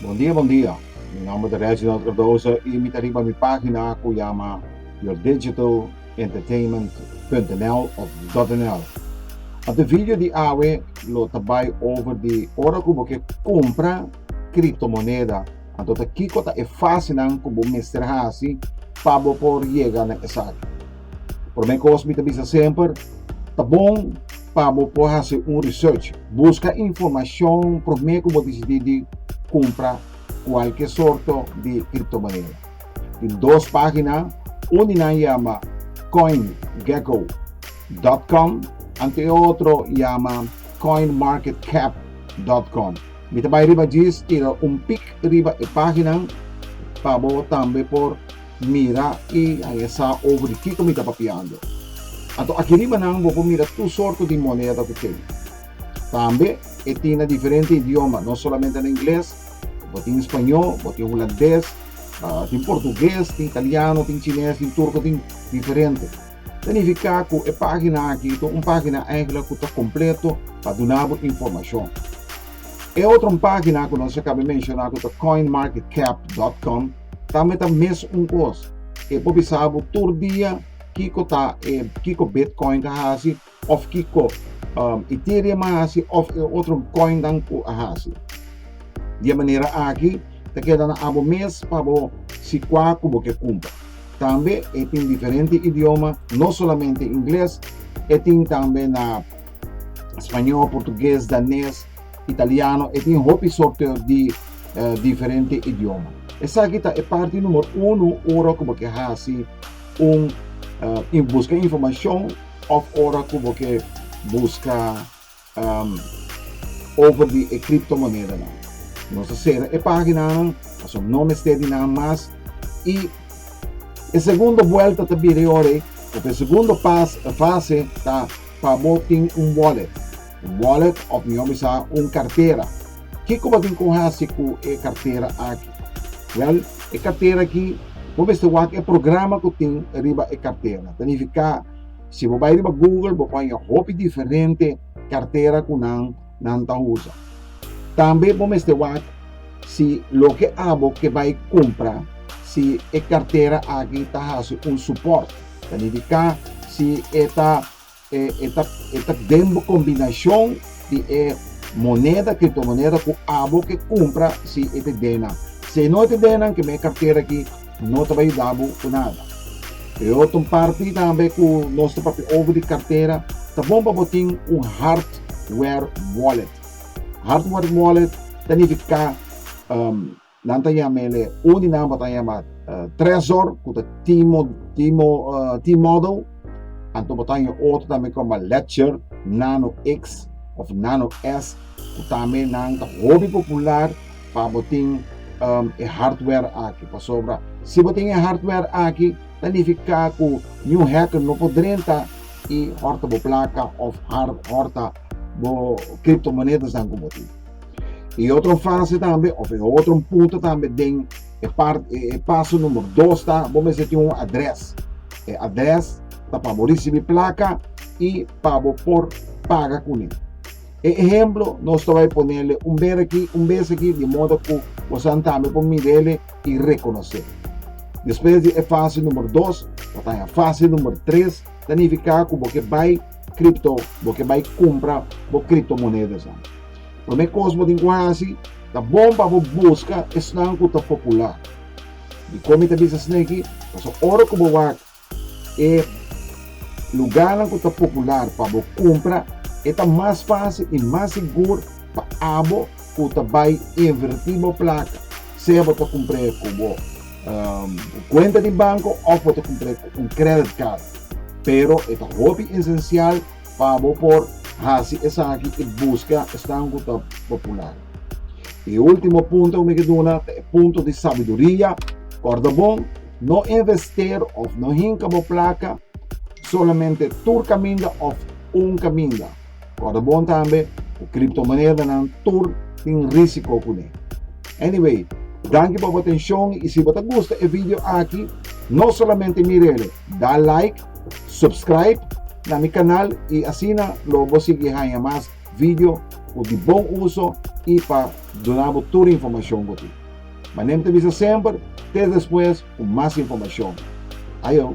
Bondia bondia, mi nomber ta Reginald Cardoso y mi ta riba mi pagina cu yama yourdigitalentertainment.nl of .nl. Op de video di awe lo ta bay over di ora cu bo ke cumpra criptomoneda Anto ta kiko ta e fasinan ku bo mester hasi pa bo por yega na esaki? Promé kos mi ta bisa semper, ta bon pa bo por hasi un research, buska informashon promé ku bo disidí di kumpra kualke sorto di kriptomoneda. Tin dos página uni nan yama coingecko dòt kòm anto e otro yama coinmarketcap dòt kòm. Mi ta bai riba djis tira un pik riba e paginan pa bo tambe por mira i haña sa over di kiko mi ta papiando. Anto aki riba nan bo por mira tur sorto di moneda ku tin. Tambe e tin na diferente idioma, no solamente na ingles, bo tin spañó, bo tin hulandes, tin portuges, tin italiano, tin chines, tin turko, tin diferente. Ta nifiká ku e página aki ta un página enkla ku ta kompleto pa duna bo informashon. E otro página ku nos a kaba menshoná ku ta coinmarketcap.com tambe ta mes un kos. E por bisa bo tur dia kiko ta e kiko Bitcoin ta hasi Of kiko Ethereum a hasi of e otro coinnan cu a hasi. Di e manera aki ta keda na abo mes pa bo si cua cu bo ke cumpra. Tambe e tin diferente idioma, no solamente Ingles, e tin tambe na Spañol, Portugues, Danes, Italiano, e tin hopi sorto di diferente idioma. Esaki ta e parti numero uno ora cu bo ke hasi un busca informacion. Of ora cu bo ke busca over di e criptomonedanan. Nos ta cera e paginanan pasobra no mester di nan mas y e segundo vuelta ta bira e ora ey of e segundo fase ta pa bo tin un wallet. Un wallet of mihó bisa un kartera. Kiko bo tin ku hasi ku e kartera aki? Wèl, e kartera aki bo mester wak e programa ku tin riba e kartera. Ta nifiká si bo bai riba Google bo por haña hopi diferente kartera ku nan nan ta usa. Tambe bo mester wak si loke abo ke bai kumpra si e kartera aki ta hasi un supòrt, ta nifiká si e ta E ta den bo kombinashon di e moneda, kriptomoneda, ku abo ke kumpra si e te den nan. Si e no te den nan, kem'e kartera aki no ta bai yuda bo ku nada. Peor ton parti tambe ku nos ta papia over di kartera, ta bon pa bo tin un hardware wallet. Hardware wallet ta nifiká. Nan ta yama el e un di nan bo ta yama Trezor, ku ta Timo, Timo, T-Model. Anto bo ta haña otro tambe koma Ledger, Nano X òf Nano S, ku tambe nan ta hopi popular pa bo tin e hardware aki. Pasobra si bo tin e hardware aki ta nifiká ku niun hacker no por drenta i hòrta bo plaka òf hòrta bo kriptomonedanan ku bo tin. E otro fase tambe, of e otro punto tambe den e, part, e, e paso numero 2 ta, bo mester tin un adres. E adres ta pa bo risibi plaka i pa bo por paga kuné. E ehemplo, nos ta bai ponele un bes aki, un bes aki, di modo ku bosan tambe por mirele i rekonosé. Despues di e fase numero 2, bo ta na fase numero 3, ta nifiká ku bo ke bai kripto, bo ke bai kumpra bo kriptomonedas. Lo me kos bo tin ku hasi, ta bon pa bo buska esnan ku ta populá. Dikon mi ta bisa esneki? Pasobra ora ku bo wak e lugánan ku ta popular pa bo kumpra, e ta mas fásil i mas sigur pa abo ku ta bai invertí bo plaka, sea bo ta kumpr'é ku bo kuenta di banko òf bo ta kumpr'é ku un kredit kard. Pero e ta hopi esensial. Pa bo por hasi esaki i buska esnan ku ta popular. E último punto ku mi ke duna ta e punto di sabiduria. Kòrda bon, no invester òf no hinka bo plaka solamente tur kaminda òf un kaminda. Kòrda bon tambe ku kriptomonedanan tur tin risiko kuné. Anyway, danki pa bo atenshon i si bo ta gusta e video aki no solamente mira el, da like. Subscribe na mi canal y asina lo bo sigui hanja mas video cu di bon uso y pa duna bo tur informacion bo tin. Ma nem ta bisa semper, te despues cu mas informacion. Ajo!